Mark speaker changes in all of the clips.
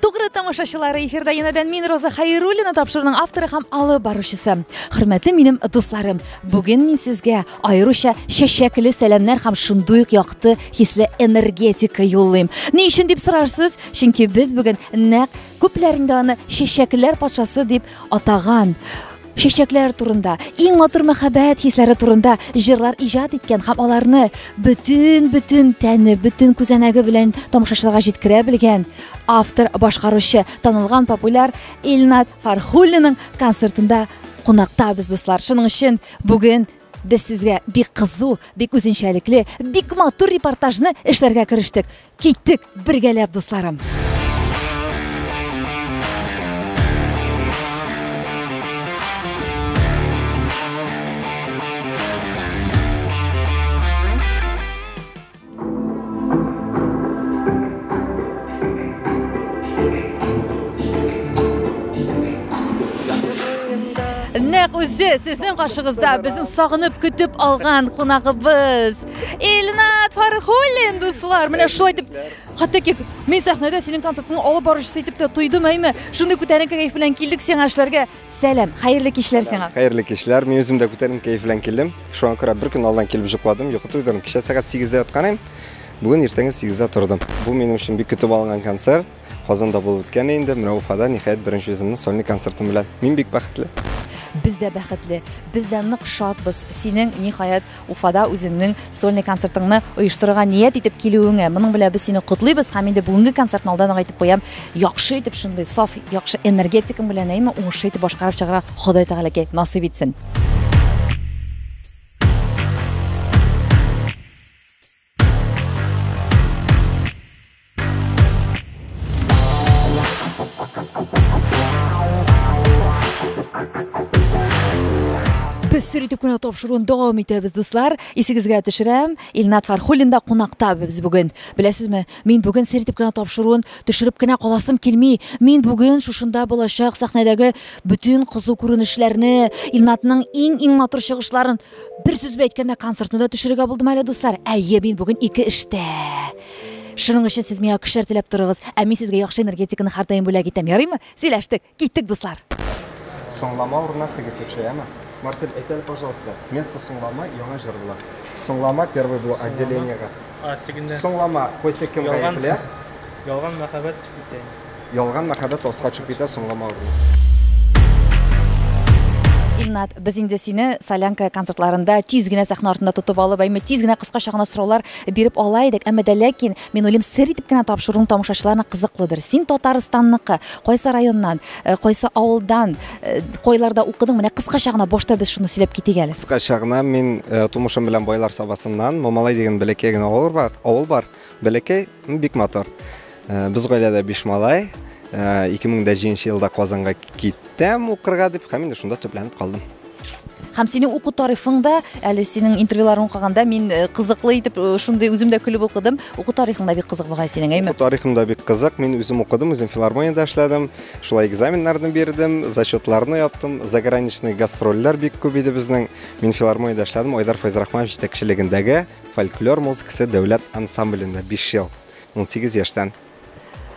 Speaker 1: Тугры тамашачылары эфирда янәдән мин Роза Хайруллина тапшыруның авторы һәм алып баручысы. Хөрмәтле минем дусларым, бүген мин сезгә аеруча чәчәкле сәламнәр һәм шундый ук якты хисле энергетика юллыйм. Ни өчен дип сорарсыз? Чөнки без бүген нәкъ күпләрендә аны чәчәкләр патшасы дип атаган чәчәкләр турында иң матур мәхәббәт хисләре турында җырлар иҗат иткән һәм аларны бөтен бөтен тәне бөтен күзәнәге белән тамашачыларга җиткерә белгән автор башкаручы танылган популяр илнат фархуллинның концертында кунакта без дуслар шуның өчен бүген без сезгә бик кызу бик үзенчәлекле бик матур репортажны эшләргә керештек Киттек бергәләп, дусларым! Нәкъ үзе сезнең каршыгызда безнең сагынып көтеп алган кунагыбыз. Илнат Фархуллин, дуслар, менә шулай итеп хәтта ки мин сәхнәдә синең концертыңны алып баручысы итеп тә тойдым, әйме? Шундый күтәренке кәеф белән килдек сиңа эшләргә. Сәлам, хәерле кичләр сиңа. Хәерле кичләр. Мин үзем
Speaker 2: дә күтәренке кәеф белән килдем. Шуңа күрә бер көн алдан килеп җокладым, йокы туйдырдым. Кичә сәгать 8-дә яткан идем. Бүген иртәнге 8-дә тордым. Бу минем өчен бик көтеп алынган концерт. Казанда булып үткән инде, менә Уфада ниһаять беренче үземнең сольный концертым белән. Мин бик бәхетле. Без дә
Speaker 1: бәхетле, без дә нык шатбыз синең ниһаять Уфада үзеңнең сольный концертыңны оештырырга ният итеп килүеңә. Моның белән без сине котлыйбыз һәм инде бүгенге концертны алдан ук әйтеп куям, яхшы итеп шундый саф, яхшы энергетикаң белән әйме, уңышлы итеп башкарып чыгарга Ходай Тәгаләкәй насыйп итсен. Без сер итеп кенә тапшыруын дәвам итәбез, дуслар. Исегезгә төшерәм, Илнат Фархуллин да кунакта без бүген. Беләсезме, мин бүген сер итеп кенә тапшыруын төшереп кенә каласым килми. Мин бүген шушында булачак сәхнәдәге бөтен кызу күренешләрне, Илнатның иң-иң матур чыгышларын Бер сүз бә әйткәндә концертны да төшерергә булдым әле, дуслар. Әйе, мин бүген ике эштә. Шуның өчен сез миңа көчләр теләп торыгыз, ә мин сезгә яхшы энергетиканы һәрдаим бүләк итәм. Ярыймы? Сөйләштек. Киттек, дуслар. Соңлама
Speaker 2: урынына тегесе төшә, яме? Марсель, әйт әле, пожалуйста, место соңлама яңа җыр була. Соңлама первый булу отделениега. А, тегендә. Соңлама, кайсы кем гаепле? Ялган
Speaker 3: мәхәббәт дип әйтә инде. Ялган мәхәббәт
Speaker 2: аст качып китә соңлама урыны.
Speaker 1: Илнат, без инде сине Солянка концертларында тиз генә сәхнә артында тотып алып, әйме тиз генә кыскача гына сораулар биреп ала идек, әмма дә ләкин мин уйлыйм, сер итеп кенә тапшыруың тамашачыларына кызыклыдыр. Син Татарстанныкы, кайсы районнан, э, кайсы авылдан, э, кайларда укыдың? Менә кыскача гына башта без шуны сөйләп китик әле. Кыскача гына мин
Speaker 2: э, тумышым белән Байлар Сабасыннан, Мамалай дигән бәләкәй генә авыл бар, авыл бар. Бәләкәй, бик матур. Э, без гаиләдә биш малай. 2007 э, елда Казанга киттем укырга дип, һәм инде шунда төпләнеп калдым. Һәм
Speaker 1: синең уку тарихың да, әле синең интервьюларын укыганда мин э, кызыклы итеп шундый үзем дә күлеп укыдым. Уку тарихың да бик кызык бугай синең, әйме? Уку тарихым да бик кызык.
Speaker 2: Мин үзем укыдым, үзем филармониядә эшләдем. Шулай экзаменнарны бирдем, зачетларны яптым. Заграничный гастрольләр бик күп иде безнең. Мин филармониядә эшләдем, Айдар Файзрахманов җитәкчелегендәге Фольклор музыкасы дәүләт ансамблендә 5 ел, 18 яшьтән.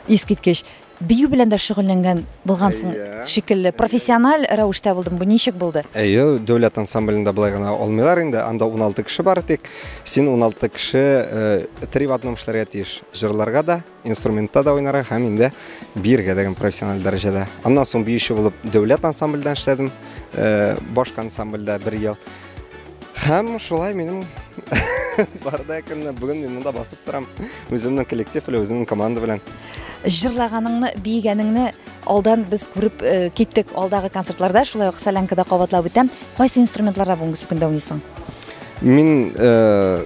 Speaker 2: Искиткеч.
Speaker 1: Бию белән дә шөгыльләнгән булгансың Әйе. шикелле. Профессиональ рәвештә булдым. Бу ничек булды? Әйе, дәүләт
Speaker 2: ансамблендә болай гына алмыйлар инде. Анда 16 кеше бары тик. Син 16 кеше э, три в одном эшләргә тиеш. Җырларга да, инструментта да уйнарга һәм инде биергә дигән профессиональ дәрәҗәдә. Аннан соң биюче булып дәүләт ансамбльдә эшләдем, э, башка ансамбльдә бер ел. Һәм шулай минем барда көнне бүген мин монда басып торам. Үземнең коллектив белән, үземнең команда белән. Җырлаганыңны,
Speaker 1: биегәнеңне алдан без күреп э, киттек алдагы концертларда, шулай ук Солянкада кабатлап үтәм. Кайсы инструментларда бүгенге көндә уйныйсың? Мин
Speaker 2: э,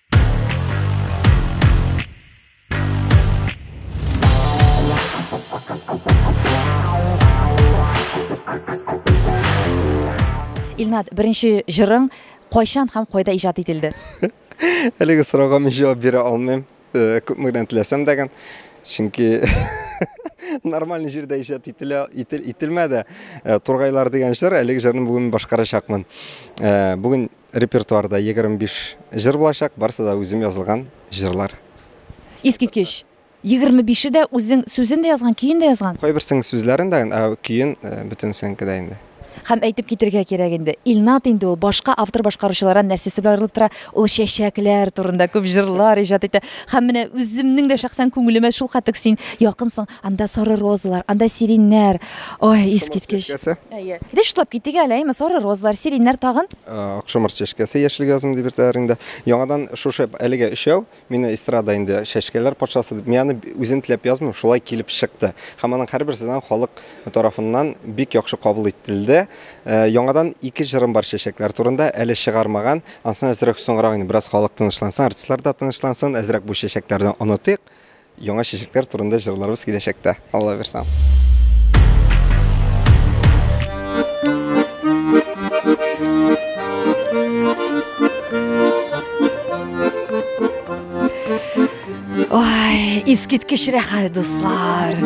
Speaker 1: Илнат, беренче җырың кайчан һәм кайда иҗат ителде? Әлеге
Speaker 2: сорауга мин җавап бирә алмыйм. Э, Күпме генә теләсәм дә гән. Чөнки нормаль җирдә иҗат ителә ителмәде. Э, Тургайлар дигән җыр, әлеге җырны бүген башкарачакмын. Э, бүген Репертуарда егерме биш җыр булачак, барысы да үзем язылган җырлар. Искиткеч!
Speaker 1: Егерме бише дә үзең сүзен дә язган, көен дә язган? Кайберсенең сүзләрен дә,
Speaker 2: ә көен бөтенесенеке дә инде. Һәм әйтеп китәргә
Speaker 1: кирәк инде, Илнат инде ул башка автор-башкаручылардан нәрсәсе белән аерылып тора, ул чәчәкләр турында күп җырлар иҗат итә. Һәм менә үземнең дә шәхсән күңелемә шулкадәк син якынсың, анда сары розалар, анда сиреньнәр, Ой, искиткеч. Чәчкәсе. Әйе. Без шутлап киттек әле, әйме, сары розалар, сиреньнәр тагын. Акшамыр чәчкәсе
Speaker 2: яшел газым дип йөртәләр инде. Яңадан шушы әлегә өчәү, мине эстрада инде чәчкәләр патшасы дип. Мин аны үзем теләп язмыйм, шулай килеп чыкты. Һәм аның һәрберсеннән халык тарафыннан бик яхшы кабул ителде. Э, Яңадан ике җырым бар чәчәкләр турында, әле чыгармаган. Ансын әзрәк соңрак инде бераз халык тынычлансын, артистлар да тынычлансын, әзрәк бу чәчәкләрне онытыйк. Яңа чәчәкләр турында җырларыбыз киләчәктә. Алла бирсә.
Speaker 1: искиткеч рәхәт дуслар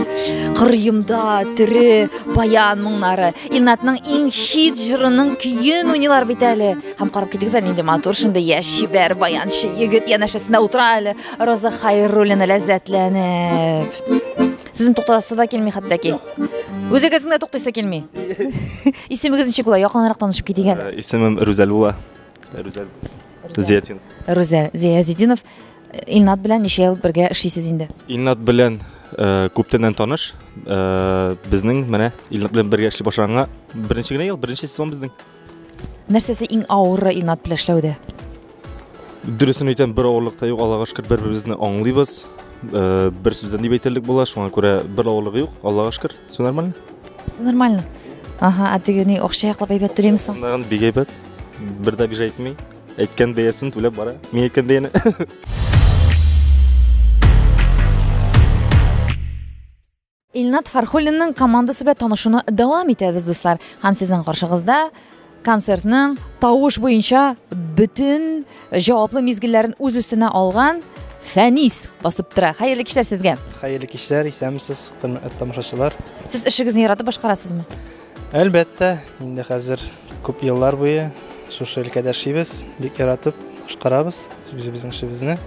Speaker 1: кырыемда тере баян моңнары илнатның иң хит жырының көен уйныйлар бит әле һәм карап китегез әле нинди матур шундый яшь чибәр баянчы егет янәшәсендә утыра әле Роза Хайруллина ләззәтләнеп. Сезне туктатасы да килми хәтта ки. Үзегезне дә туктыйсы килми. Исемегез ничек була? Якынрак танышып китик әле. Э, исемем Рүзәл була.
Speaker 4: Рүзәл Зиятин. Рүзә
Speaker 1: Зиязидинов. Илнат белән ничә ел бергә эшлисез инде? Илнат белән
Speaker 4: э, күптәннән таныш. Э, безнең менә Илнат белән бергә эшли башлаганга беренче генә ел, беренче сезон безнең. Нәрсәсе
Speaker 1: иң авыры Илнат белән эшләүдә?
Speaker 4: Дөресен әйтәм, бер авырлык та юк, Аллага шөкер, бер-беребезне аңлыйбыз. Э, бер сүздән дип әйтерлек була, шуңа күрә бер авырлыгы юк, Аллага шөкер. Все нормально? Все нормально.
Speaker 1: Ага, а теге ни акча яклап әйбәт түләйме соң? Аннан бик әйбәт.
Speaker 4: Бер дә бижа әйтми. Әйткән бәясен түләп бара. Мин әйткән бәяне.
Speaker 1: Илнат Фархуллинның командасы белән танышуны дәвам итәбез, дуслар. Һәм сезнең каршыгызда концертның тавыш буенча бөтен җаваплы мизгелләрен үз өстенә алган Фәнис басып тора. Хәерле кичләр сезгә. Хәерле кичләр,
Speaker 3: исәнмесез, хөрмәтле тамашачылар. Сез эшегезне яратып
Speaker 1: башкарасызмы? Әлбәттә,
Speaker 3: инде хәзер күп еллар буе шушы өлкәдә эшлибез, бик яратып башкарабыз үзебезнең эшебезне.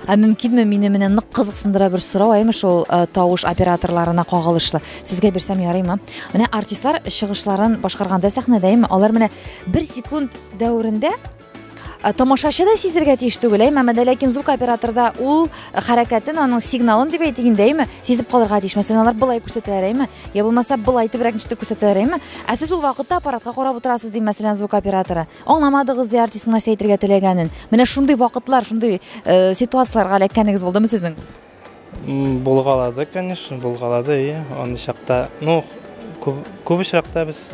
Speaker 3: Ә мөмкинме
Speaker 1: мине менә нык кызыксындыра бер сорау, әйме шул э, тавыш операторларына кагылышлы. Сезгә бирсәм ярыймы? Менә артистлар чыгышларын башкарганда сәхнәдә, әйме алар менә бер секунд дәверендә э, тамашачы да сизергә тиеш түгел, әйме, әмма дә ләкин звук операторда ул хәрәкәтен, аның сигналын дип әйтик инде, әйме, сизеп калырга тиеш. Мәсәлән, алар былай күрсәтәләр, әйме, я булмаса былай итебрәк ничек күрсәтәләр, әйме. Ә сез ул вакытта аппаратка карап утырасыз, ди мәсәлән звук операторы. Аңламадыгыз ди артистның нәрсә әйтергә теләгәнен. Менә шундый вакытлар, шундый э, ситуацияләргә эләккәнегез булдымы сезнең? М,
Speaker 3: Булгалады, конечно, булгалады, и аны чакта. Ну, күп, күп очракта без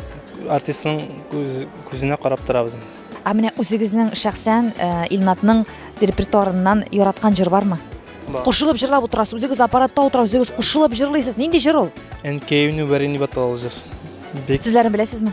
Speaker 3: артистның күз, күзенә карап торабыз. Ә менә үзегезнең
Speaker 1: шәхсән э, Илнатның репертуарыннан яраткан җыр бармы? Бар. Кушылып җырлап утырасыз, үзегез аппаратта утырасыз, үзегез кушылып җырлыйсыз. Нинди җыр ул? Әнкәемне бәрәни
Speaker 3: баталал җыр. Бик Сүзләрен
Speaker 1: беләсезме?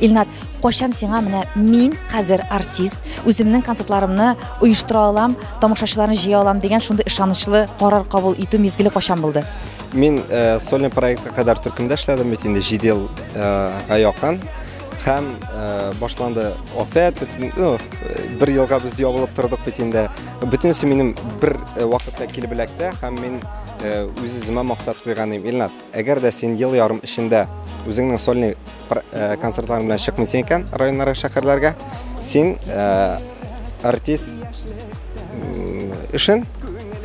Speaker 1: Илнат, кайчан сиңа менә мин хәзер артист, үземнең концертларымны оештыра алам, тамашачыларны җыя алам дигән шундый ышанычлы карар кабул итү мизгеле кайчан булды? Мин э,
Speaker 2: сольный проектка кадәр төркемдә эшләдем бит инде 7 елга э, якын. һәм э, башланды афәт бөтен ну, э, бер елга без ябылып тордык бит инде бөтенесе минем бер э, вакытта килеп эләкте һәм мин үз үземә максат куйган идем илнат әгәр дә син ел ярым эчендә үзеңнең сольный концертларың белән чыкмыйсың икән районнарга шәһәрләргә син артист эшен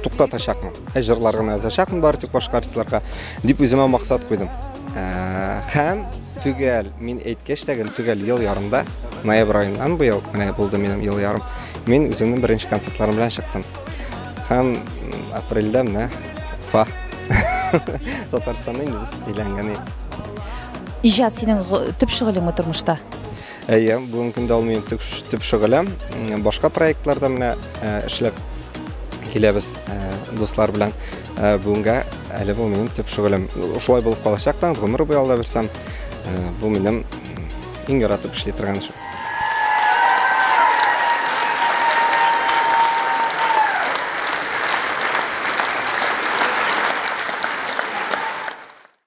Speaker 2: туктатачакмын ә җырлар гына язачакмын бары тик башка артистларга дип үземә максат куйдым Хәм төгәл мин әйткәч тәген төгәл ел ярымда ноябрь аеннан быел менә булды минем ел ярым мин үземнең беренче концертларым белән чыктым һәм апрельдә менә фа татарстанның иңләнгәне иҗат
Speaker 1: синең төп шөгылеңме тормышта Әйе,
Speaker 2: бүгенге көндә ул минем төп шөгылем. Башка проектларда менә э, эшләп киләбез э, дуслар белән. Э, бүгенгә әле бу минем төп шөгылем. Шулай булып калачак та, гомер буе алда бирсәм, бу минем иң яратып эшли торган эшем.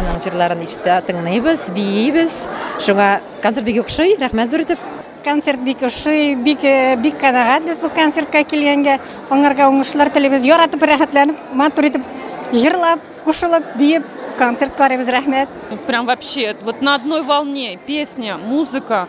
Speaker 5: Аның җырларын ишетә, тыңлыйбыз, биибез. Шуңа концерт бик охшый. Рәхмәт зур итеп. Концерт бик ошый, бик э, бик канәгать без бу концертка килгәнгә. Аңарга уңышлар телибез. Яратып, рәхәтләнеп, матур итеп җырлап, кушылып, биеп концерт карыйбыз. Рәхмәт. Прям вообще
Speaker 6: вот на одной волне песня, музыка.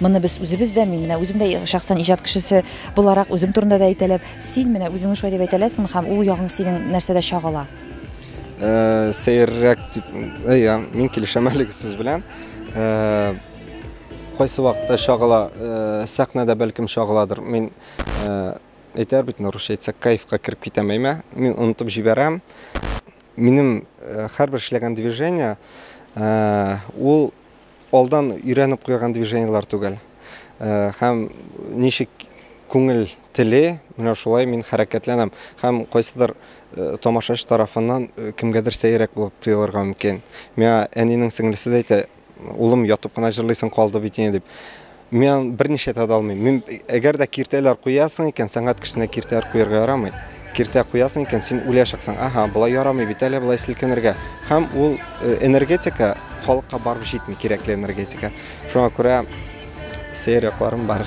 Speaker 1: Моны без үзебез дә, мин менә үзем дә шәхсән иҗат кешесе буларак үзем турында да әйтәләп, син менә үзеңне шулай дип әйтәләсең һәм ул ягың синең нәрсәдә чагыла? Э, сәеррәк
Speaker 2: дип, әйе, мин килешәм әлеге сүз белән. Э, кайсы вакытта чагыла, э, сәхнәдә бәлкем чагыладыр. Мин әйтәр бит, русча әйтсәк, кайфка кереп китәм әйме. Мин онытып җибәрәм. Минем һәрбер эшләгән движение ул Алдан өйрәнеп куйган движениелар түгел. Һәм ничек күңел теле, менә шулай мин хәрәкәтләнәм. Һәм кайсыдыр тамашачы тарафыннан кемгәдер сәерәк булып тоелырга мөмкин. Миңа әнинең сеңлесе дә әйтә, улым ятып кына җырлыйсың калды бит инде дип. Мин аны берничә дә алмыйм. Мин әгәр дә киртәләр куясың икән, сәнгать кешесенә киртәләр куярга ярамый. Киртә куясың икән, син үләчәксең. Ага, болай ярамый бит әле, болай селкенергә. Һәм ул э, энергетика халыкка барып җитми, кирәкле энергетика. Шуңа күрә сәер якларым бар.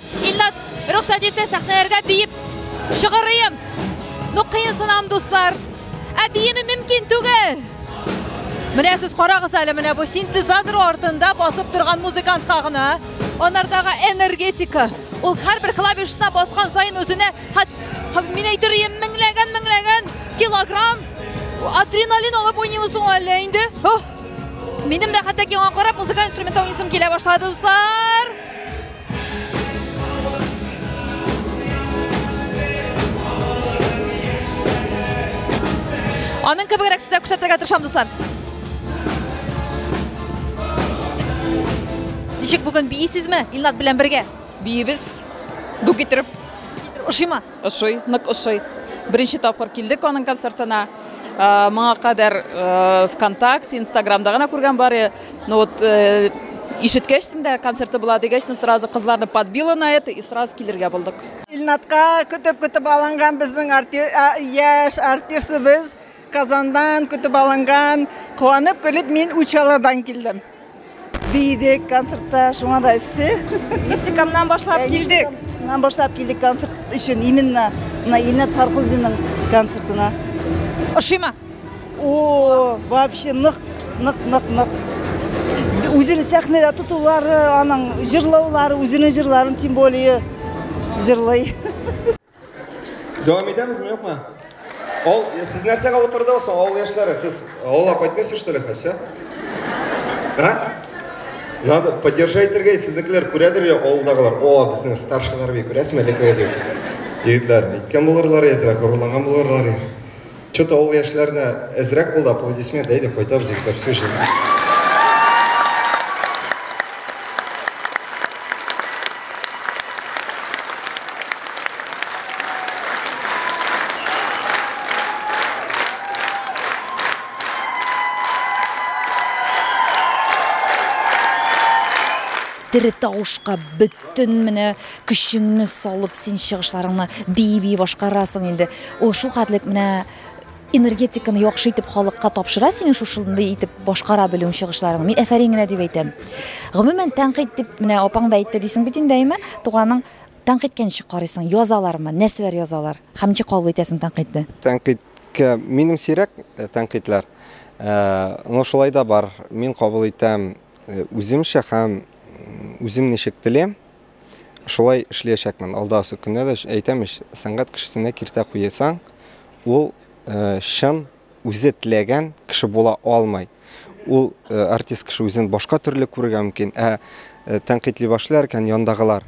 Speaker 1: Илнат, рөхсәт итсә, сәхнәләргә биеп шыгырыйм. Ну, кыенсынам, дуслар. Ә биеме мөмкин түгел. Менә сез карагыз әле, менә бу синтезатор артында басып торган музыкантка гына. Анардагы энергетика. Ул һәрбер клавишына баскан саен үзенә мин әйтер идем, меңләгән, меңләгән килограмм адреналин алып уйныймы соң әллә инде? Минем дә хәтта киңа карап музыкаль инструментта уйныйсым килә башлады, дуслар. Аның кебегрәк сезгә күрсәтергә тырышам, дуслар. Ничек бүген бийсезме? Илнат белән бергә. Биебез.
Speaker 6: Ду китереп. Ошыймы?
Speaker 1: Ошый, нык
Speaker 6: ошый. Беренче тапкыр килдек аның концертына. Моңа кадәр ВКонтакте, Инстаграмда гына күргән бары. Ну вот э, ишеткәчсен дә концерты була дигәчсен сразу кызларны подбило на это и сразу килергә булдык. Илнатка
Speaker 7: көтеп-көтеп алынган безнең яшь артистыбыз Казандан көтеп алынган, куанып көлеп мин Учалардан килдем. Биедек
Speaker 8: концертта, шуңа да эссе. Мистикамнан
Speaker 7: башлап килдек. Мистикамнан башлап килдек
Speaker 8: концерт өчен именно мына Илнат Фархулдинның концертына. Ошыймы?
Speaker 1: О,
Speaker 8: вообще нык, нык, нык, нык. Үзен сәхнәдә тотулары, аның җырлаулары, үзенең җырларын тем более җырлый.
Speaker 2: Дәвам итәмезме, юкмы? Ол, сез нәрсәгә утырдыгыз соң, авыл яшьләре? Сез авылга кайтмыйсыз, что ли, хәтсә? А? Надо поддержать итәргә, сезнекеләр күрәдер я авылдагылар. О, безнең старшийлар бик күрәсезме, лекләр дип. Егетләр, әйткән булырлар, әзрәк горурланган булырлар. Че то ул яшьләрне әзрәк булды, аплодисмент, әйдә кайтабыз егетләр, все җиңел.
Speaker 1: тере тавышка бөтен Төн менә көчеңне салып син чыгышларыңны бии-бии башкарасың инде. Ул шулхәтлек менә энергетиканы яхшы итеп халыкка тапшыра синең шушындый итеп башкара белүең чыгышларың. Мин әфәрин генә дип әйтәм. Гомумән тәнкыйть дип менә апаң да әйтте дисең бит инде әйме? Туганың тәнкыйтькә ничек карыйсың? Язалармы? Нәрсәләр язалар? Һәм ничек кабул итәсең тәнкыйтьне? Тәнкыйтькә
Speaker 2: минем сирәк э, тәнкыйтьләр. Э, но шулай да бар. Мин кабул итәм э, үземчә һәм Үзем ничек телим, шулай эшләячәкмен. Алдасы көннә дә әйтәм ич, сәнгать кешесенә киртә куйсаң, ул э, чын үзе теләгән кеше була алмый. Ул э, артист кеше үзен башка төрле күрергә мөмкин, ә э, тәнкыйтли башлар икән яндагылар.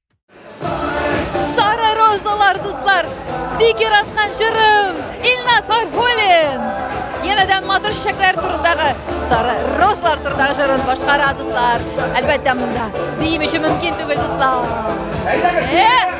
Speaker 1: Сары розалар, дуслар! Бик яраткан җырым! Илнат Фархулин! Янәдән матур чәчәкләр турындагы сары розалар турындагы җырын башкара, дуслар. Әлбәттә, монда биим өчен мөмкин түгел, дуслар. Әйдәгез!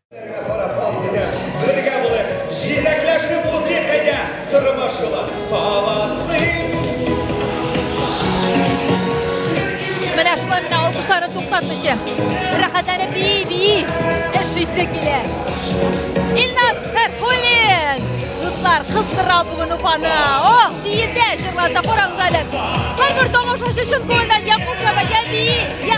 Speaker 1: Менә шулай менә алкышлары туктатмыйча. Рәхәтләнеп бии, бии. Эш исе килә. Илназ Хәрхулин! Дуслар, кыздыра бүген Уфаны. Ох, биетә, җырлата, карагыз әле. Һәрбер тамашачы чын күңелдән я кул чаба, я бии, я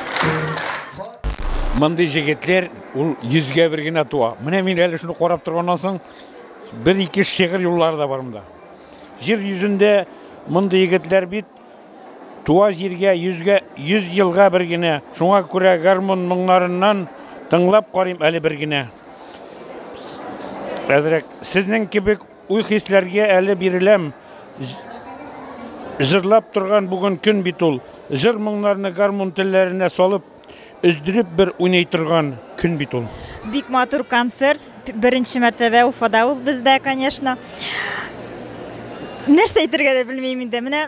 Speaker 9: Мондый җегетләр ул йөзгә бер генә туа. Менә мин әле шуны карап торганнан соң бер ике шигырь юллары да бар монда. Җир йөзендә мондый егетләр бит туа җиргә йөзгә йөз елга бер генә. Шуңа күрә гармун моңнарыннан тыңлап карыйм әле бер генә. Әзрәк сезнең кебек Уй-хисләргә әле биреләм, җырлап торган бүген көн бит ул. Җыр-моңнарны гармун телләренә салып, өздереп бер уйный торган көн бит ул. Бик матур
Speaker 10: концерт, беренче мәртәбә Уфада ул бездә, конечно. Нәрсә әйтергә дә белмим инде. Менә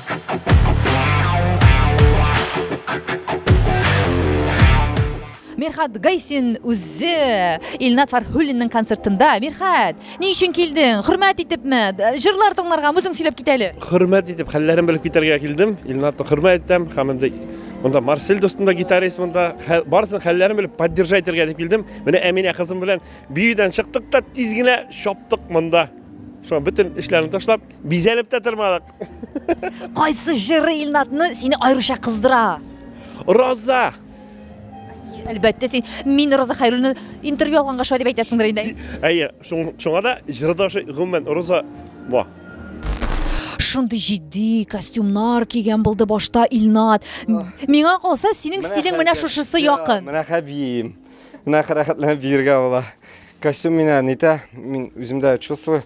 Speaker 1: Мирхат Гайсин үзе Илнат Фархуллинның концертында. Мирхат, ни өчен килдең? Хөрмәт итепме? Җырлар тыңларга үзең сөйләп кит әле. Хөрмәт итеп, хәлләрен
Speaker 11: белеп китәргә килдем. Илнатны хөрмәт итәм һәм инде монда Марсель дустында гитарист монда барысын хәлләрен белеп поддержать итәргә дип килдем. Менә Әминә кызым белән биюдән чыктык та тиз генә чаптык монда. Шуңа бөтен эшләрне ташлап, бизәлеп тә тормадык. Кайсы
Speaker 1: җыры Илнатны сине аеруча кыздыра? Роза. Әлбәттә син мин Роза Хәйруллина интервью алганга шулай дип әйтәсеңдер инде. Әйе,
Speaker 11: шуңа да җыры да ошый, гомумән Роза ва.
Speaker 1: Шундый җитди костюмнар кигән булды башта Илнат. Миңа калса, синең стилең менә шушысы якын. Менә хәбием.
Speaker 2: Менә хәрәкәтләнеп биергә була. Костюм меня нетә, мин үземдә чувствую.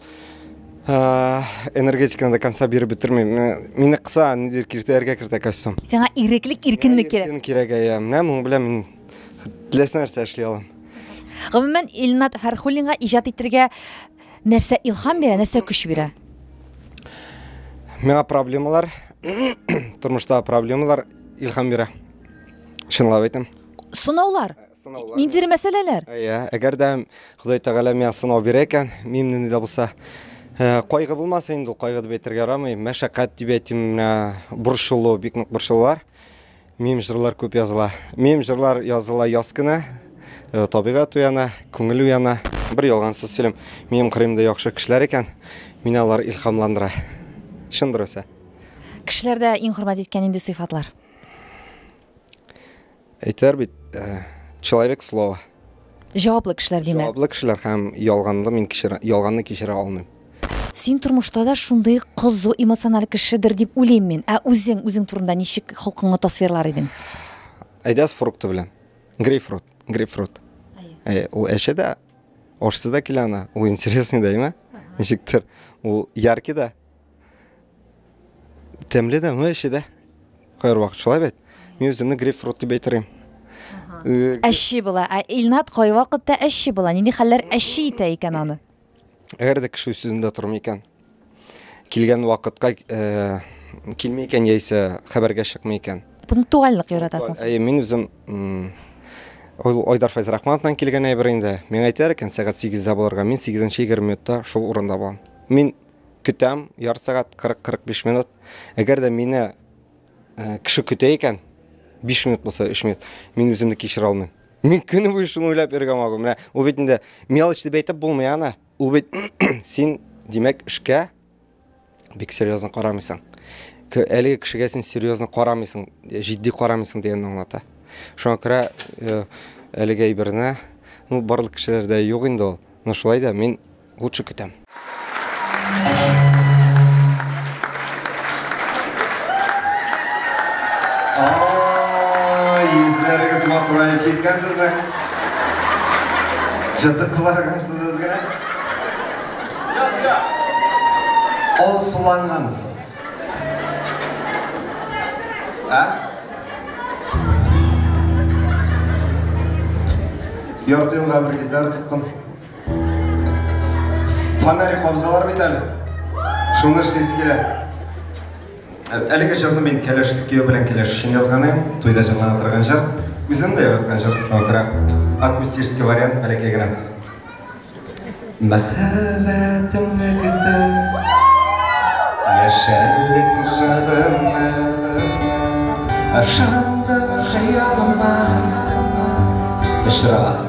Speaker 2: Э, энергетиканы до конца биреп бетермим. Мине кыса, нидер киртәләргә кертә костюм. Сиңа иреклек,
Speaker 1: иркенлек кирәк. Иркен кирәк, я. Менә моның
Speaker 2: белән мин теләсә нәрсә эшли алам. Гомумән,
Speaker 1: Илнат Фәрхуллинга иҗат итергә нәрсә илһам бирә, нәрсә көч бирә? Миңа
Speaker 2: проблемалар, тормышта проблемалар илһам бирә. Чынлап әйтәм. Сынаулар.
Speaker 1: сынаулар. Ниндидер мәсьәләләр? Иә, әгәр дә
Speaker 2: Ходай Тәгалә миңа сынау бирә икән, мин нинди дә булса Э, кайгы булмаса инде ул кайгы дип әйтергә ярамый мәшәкать дип әйтим менә борчылу бик нык борчылулар мем жырлар күп языла мем жырлар языла яз көне э, табигать уяна күңел уяна бер ялгансыз сөйлим минем кырыйымда яхшы кешеләр икән мине алар илһамландыра чын дөресе кешеләрдә
Speaker 1: иң хөрмәт иткән инде сыйфатлар
Speaker 2: Әйтәр бит, э, человек слова.
Speaker 1: Җаваплы кешеләр димәк. Җаваплы кешеләр һәм
Speaker 2: ялганны мин кичерә, ялганны кичерә алмыйм. Син тормышта
Speaker 1: да шундый кызу эмоциональ кешедер дип уйлыйм мин. Ә үзең, үзең турында ничек холкыңны тасвирлар идең? Әйдәс
Speaker 2: фрукты белән. Грейпфрут, грейпфрут. Әй, ул әче дә, ашсыз да килә ана. Ул интересный да, әйме? Ничектер. Ул яркий да. Тәмле дә, уңай эче дә. Кайр вакыт шулай бит. Мин үземне грейпфрут дип әйтер
Speaker 1: Әши була. Ә Илнат кай вакытта әши була? Нинди хәлләр әши итә икән аны? Әгәр дә кеше
Speaker 2: үз сүзендә тормый икән, килгән вакытка э, килми икән яисә хәбәргә чыкмый икән. Пунктуальлык яратасың.
Speaker 1: Ә мин үзем
Speaker 2: ул Айдар Файзрахмановтан килгән әйбер инде. Миңа әйтәр икән, сәгать 8-дә булырга, мин 8-нче 20 минутта шул урында булам. Мин Көтәм, ярты сәгать, 40-45 минут. Әгәр дә мине э, кеше көтә икән, 5 минут булса 3 минут, мин үземне кичерә алмыйм. Мин көне буе шуны уйлап йөргән магу. Менә ул бит инде мелочь дип әйтеп булмый аны. Ул бит син, димәк, эшкә бик серьезно карамыйсың. К- Әлеге кешегә син серьезно карамыйсың, җитди карамыйсың дигәнне аңлата. Шуңа күрә э, әлеге әйберне, ну, барлык кешеләрдә юк инде ул. Но шулай да мин лучше көтәм. Ай, йөзләрегез матураеп киткән сезнең. Җыты кызаргансыз генә. Ол сулангансыз. Ә? Ярты елга бер гитара тоттым. Фонарик кобзалар бит әле. Шуны эшлисе килә. Әлеге җырны мин кәләш кияү белән кәләш өчен язган идем. Туйда җырлана торган җыр. Үзем дә яраткан җыр. Шуңа күрә акустический вариант бәләкәй генә. Мәхәббәтемне көтеп Яшәрлек җырымны Ышандым хыялыма Ышра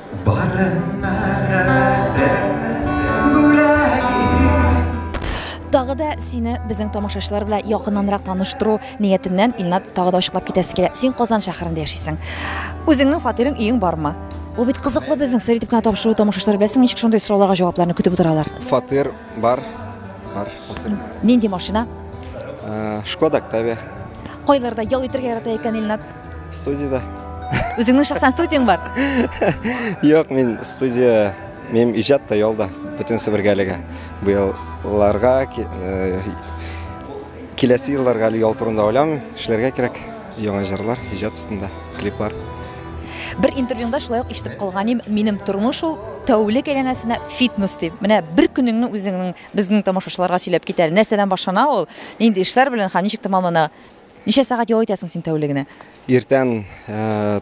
Speaker 2: Барына
Speaker 1: да бәрмәсен бүләк итеп. Тагы да сине безнең тамашачылар белән якыннанрак таныштыру ниятеннән, Илнат, тагы да ачыклап китәсе килә. Син Казан шәһәрендә яшисең. Үзеңнең фатирың, өең бармы? Ул бит кызыклы безнең сер итеп кенә тапшыру, тамашачылар беләсеңме ничек шундый сорауларга җавапларны көтеп утыралар. Фатир бар, бар,
Speaker 2: фатир бар.
Speaker 1: Нинди машина?
Speaker 2: Шкода Октавия. Кайларда
Speaker 1: ял итәргә ярата икән Илнат? Студияда.
Speaker 2: Үзеңнең
Speaker 1: шәхсән студияң бар? Юк,
Speaker 2: мин студия, минем иҗат та ялда, бөтен Себергәлегә. Бу елларга, э, киләсе елларга әле ял турында уйлам, эшләргә кирәк. Яңа җырлар, иҗат өстендә, клиплар. Бер
Speaker 1: интервьюңда шулай ук ишетеп калганым, минем тормыш ул тәүлек әйләнәсенә фитнес дип. Менә бер көнеңне үзеңнең безнең тамашачыларга сөйләп китәле. Нәрсәдән башлана ул? Нинди эшләр белән һәм ничек тәмамлана? Ничә сәгать ял итәсең син тәүлегенә? Иртән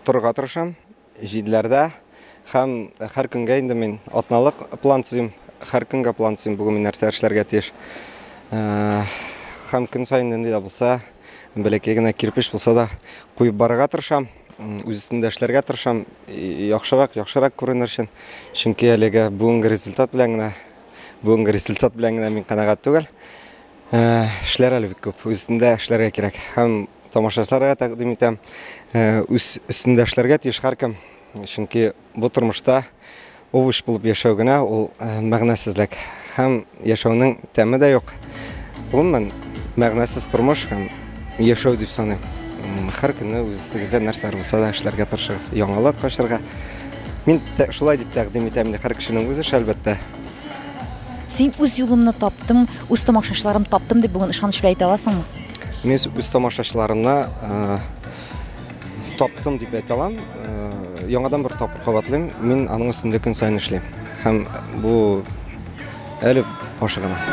Speaker 2: торырга тырышам, җиделәрдә. Һәм һәр көнгә инде мин атналык план төзим. Һәр көнгә план төзим, бүген мин нәрсә эшләргә тиеш. Һәм көн саен нинди дә булса, бәләкәй генә кирпеч булса да куеп барырга тырышам. Үз өстендә эшләргә тырышам, яхшырак, яхшырак күренер өчен. Чөнки әлегә бүгенге результат белән генә, бүгенге результат белән генә мин канәгать түгел. Эшләр әле бик күп. Үз өстендә эшләргә кирәк. Һәм тамашачыларга тәкъдим итәм. Үз өстендә эшләргә тиеш һәркем. Чөнки бу тормышта овощ булып яшәү генә ул мәгънәсезлек. Һәм яшәүнең тәме дә юк. Гомумән, мәгънәсез тормыш һәм яшәү дип саныйм. Һәр көнне үзегездә нәрсә булса да эшләргә тырышыгыз. Яңалык ачарга. Мин шулай дип тәкъдим итәм. Һәр кешенең үз эше, әлбәттә.
Speaker 1: Син үз юлымны таптым, үз тамашачыларым таптым дип бүген ышаныч белән әйтә аласыңмы? Мин үз
Speaker 2: тамашачыларымны э, таптым дип әйтә алам. Э, яңадан бер тапкыр кабатлыйм, мин аның өстендә көн саен эшлим. Һәм бу әле башы гына.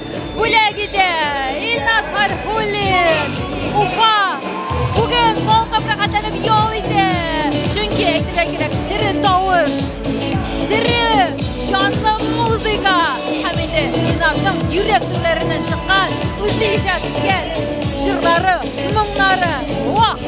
Speaker 1: Бүләк итә Илназ Фархуллин, Уфа. Бүген балкып рәхәтләнеп ял итә. Чөнки әйтергә кирәк, тере тавыш, тере җанлы музыка һәм инде Илназның йөрәк түрләреннән чыккан үзе иҗат иткән җырлары, моңнары. Вах!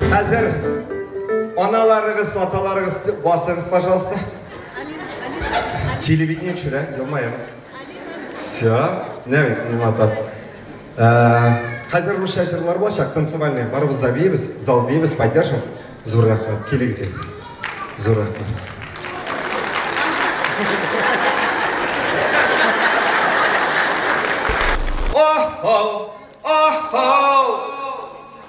Speaker 2: Хәзер аналарыгыз, аталарыгыз басыгыз, пожалуйста. Телевидение төшерә, елмаегыз. Все, не бит, не матап. Хәзер русча җырлар булачак, танцевальный. Барыбыз да бейбез, зал бейбез, поддержим. Зур рәхмәт, килегез. Зур рәхмәт. Oh, oh.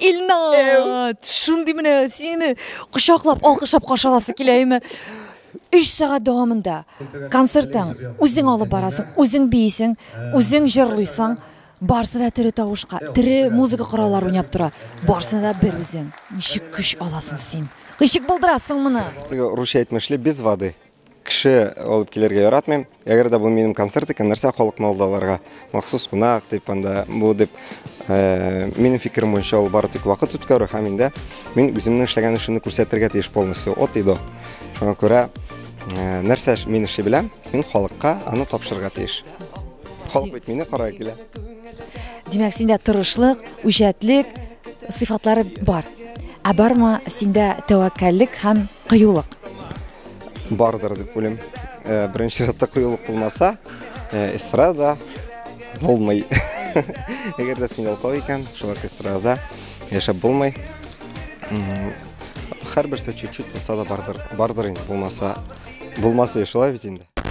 Speaker 1: Илнат, шундый менә сине кочаклап, алкышлап каршы аласы килә име? Өч сәгать дәвамында концертың, үзең алып барасың, үзең биисең, үзең җырлыйсың, барысы да тере тавышка, тере музыка кораллары уйнап тора. Барысы да бер үзең. Ничек көч аласың син? Ничек булдырасың моны? Теге русча әйтмешли,
Speaker 2: без воды. Кеше алып килергә яратмыйм. Әгәр дә бу минем концерт икән, нәрсә халыкны алдаларга? Махсус кунак дип анда бу дип э, минем фикерем буенча ул бары тик вакыт үткәрү һәм инде мин үземнең эшләгән эшемне күрсәтергә тиеш полностью от и до. Шуңа күрә э, нәрсә эш- мин эшли беләм, мин халыкка аны тапшырырга тиеш. Халык бит мине карарга килә. Димәк,
Speaker 1: синдә тырышлык, үҗәтлек сыйфатлары бар. Ә бармы синдә тәвәккәллек һәм кыюлык?
Speaker 2: Бардыр дип уйлыйм. Э, Беренче чиратта кыюлык булмаса, э, эстрада булмый. Әгәр дә син ялкау икән, шул эстрадада яшәп булмый. Һәрберсе чуть-чуть булса да бардыр, бардыр инде булмаса, булмаса шулай бит инде.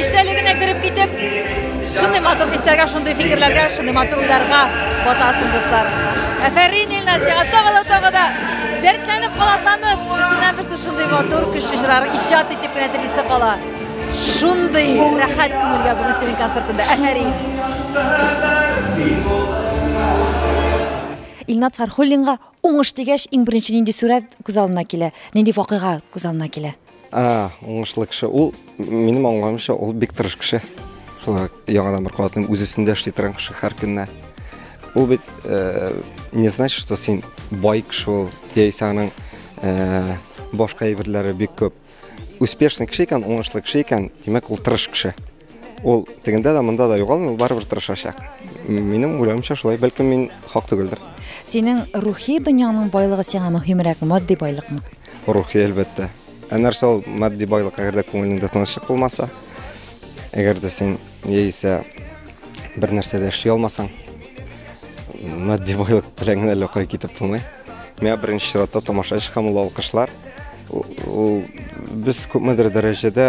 Speaker 1: Иштәлегенә кереп китеп, шундый матур хисләргә, шундый фикерләргә, шундый матур уйларга батасың, дуслар. Әфәрин, Илназ, сиңа тагы да тагы да дәртләнеп, калатланып, берсеннән берсе шундый матур көчле җырлар иҗат итеп кенә телисе кала. Шундый рәхәт күңелгә бүген синең концертында. Әфәрин. Илнат Фархуллинга уңыш дигәч, иң беренче нинди сүрәт күз алдына килә? Нинди вакыйга күз алдына килә? А, уңышлы
Speaker 2: кеше. Ул минем аңламыйча, ул бик тырыш кеше. Шулай яңадан бер катлым үзесендә эшли торган кеше һәр көнне. Ул бит э, не значит, что син бай кеше ул, яисә аның э, башка әйберләре бик күп. Успешный кеше икән, уңышлы кеше икән, димәк ул тырыш кеше. Ул тегендә дә, монда да югалмый, ул барыбер тырышачак. Минем уйлавымча шулай, бәлкем мин хак түгелдер. Синең
Speaker 1: рухи дөньяңның байлыгы сиңа мөһимрәк, матди байлыкмы? Рухи әлбәттә.
Speaker 2: Ә нәрсә ул матди байлык, әгәр дә күңелеңдә тынычлык булмаса, әгәр дә син яисә бер нәрсә дә эшли алмасаң, матди байлык белән генә лөкай китеп булмый. Миңа беренче чиратта тамашачы һәм ул алкышлар. Ул, ул без күпмедер дәрәҗәдә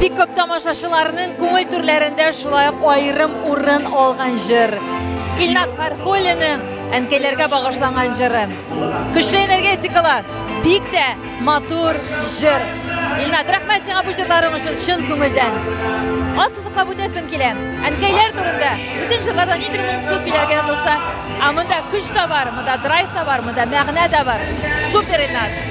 Speaker 1: Бик көп тамашачыларның күңел түрләрендә шулай ук аерым урын алган җыр. Илнат Фәрхуллинның әнкәйләргә багышланган җыры. Көчле энергетикала бик тә Матур җыр. Илнат, рәхмәт сиңа бу җырларың өчен чын күңелдән. Ассызыклап үтәсем килә. Әнкәйләр турында бүтән җырларда нидер моңсу көйләргә язылса, а монда көч тә бар, монда драйв та бар, монда мәгънә дә бар. Супер, Илнат.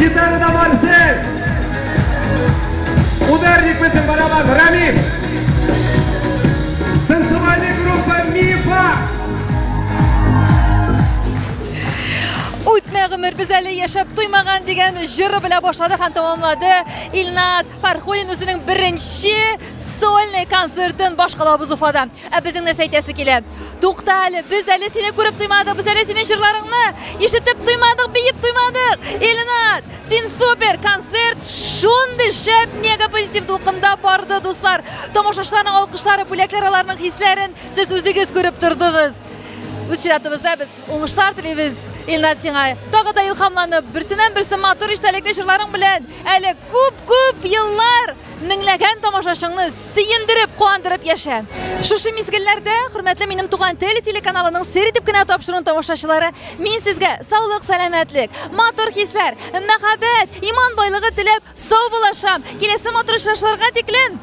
Speaker 1: Гитарада Марсель! Ударник безнең барабан Рамил! Танцевальный группа Мифа! Үтмә гомер без әле яшәп туймаган дигән җыры белән башлады һәм тәмамлады Илназ. Фархулин үзенең беренче сольный концертын башкалабыз Уфада. Ә безнең нәрсә әйтәсе килә? Тукта әле, без әле сине күреп туймадык, без әле синең җырларыңны ишетеп туймадык, биеп туймадык. Ильнат, син супер концерт, шундый шәп мега позитив дулкында барды, дуслар. Тамашачыларның алкышлары, бүләкләр аларның хисләрен сез үзегез күреп тордыгыз. Үз чиратыбызда без Уңышлар телибез, Илнат сиңа. Тагы да илхамланып, берсеннән берсе матур истәлекле җырларың белән әле күп-күп еллар меңләгән тамашачыңны сөендереп, куандырып яшә. Шушы мизгелләрдә, хөрмәтле минем туган тел телеканалының сер итеп кенә тапшыруын тамашачылары, мин сезгә саулык, сәламәтлек, матур хисләр, мәхәббәт, иман байлыгы теләп сау булашам. Киләсе матур очрашуларга тиклем!